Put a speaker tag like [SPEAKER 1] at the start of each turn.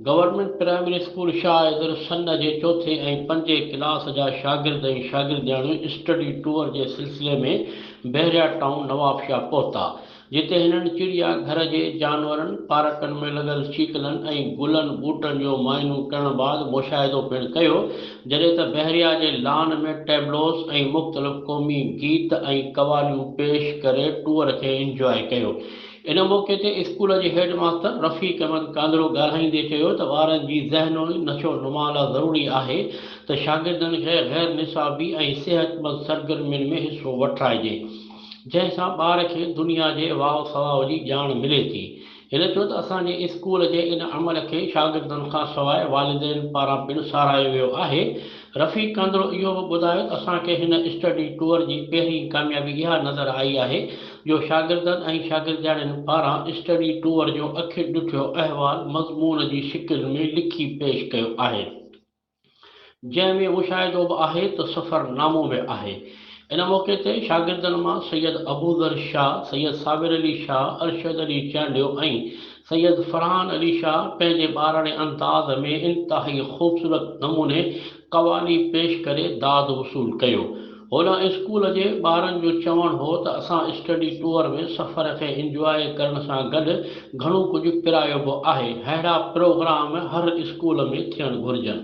[SPEAKER 1] Government primary school Shah Haider سنه جي چوٿين ۽ پنجين ڪلاس جا شاگرد ۽ شاگردياڻيون اسٽڊي ٽوئر جي سلسلي ۾ بحريا ٽائون نوابشاهه پهتا جتي هنن چڙيا گهر جي جانورن، پارڪن ۾ لڳل شيڪلن ۽ گلن ٻوٽن جو معائنو ڪرڻ بعد مشاهدو پڻ ڪيو، جڏهن ته بحريا جي لان ۾ ٽيبلوز ۽ مختلف قومي گيت ۽ قواليون پيش ڪري ٽوئر کي انجواء ڪيو. ان موقعي تي اسڪول جي هيڊ ماستر رفيق احمد ڪانڌرو ڳالهائيندي چيو ته ٻارن جي ذهنوي نشو نما لا ضروري آهي ته شاگردن کي غير نصابي ۽ صحتمند سرگرمين ۾ حصو وٺرائجي. جنهن سان ٻار کي دنيا جي واء سواء جي ڄاڻ ملي ٿي. هن چيو ته اسان جي اسڪول جي ان عمل کي شاگردن کان سواء والدين پاران پڻ ساراهيو ويو آهي. رفيق ڪانڌڙو اهو به ٻڌايو ته اسان کي هن اسٽڊي ٽوئر جي پهرين ڪاميابي اها نظر آئي آهي جو شاگردن ۽ شاگردياڻين پاران اسٽڊي ٽوئر جو اکين ڏٺو احوال مضمون جي شڪل ۾ لکي پيش ڪيو آهي. جنهن ۾ مشاهدو به آهي ته سفر نامو به آهي. ان موقعي تي شاگردن مان سيد ابوذر شاهه، سيد صابر علي شاهه، ارشد علي چانڊيو ۽ سيد فرحان علي شاهه پنهنجي ٻاراڻي انداز ۾ انتهائي خوبصورت نموني قوالي پيش ڪري داد وصول ڪيو. هن اسڪول جي ٻارن جو چوڻ هو ته اسان اسٽڊي ٽوئر ۾ سفر کي انجواء ڪرڻ سان گڏ گهڻو ڪجهه پرايو به آهي، ههڙا پروگرام هر اسڪول ۾ ٿيڻ گهرجن.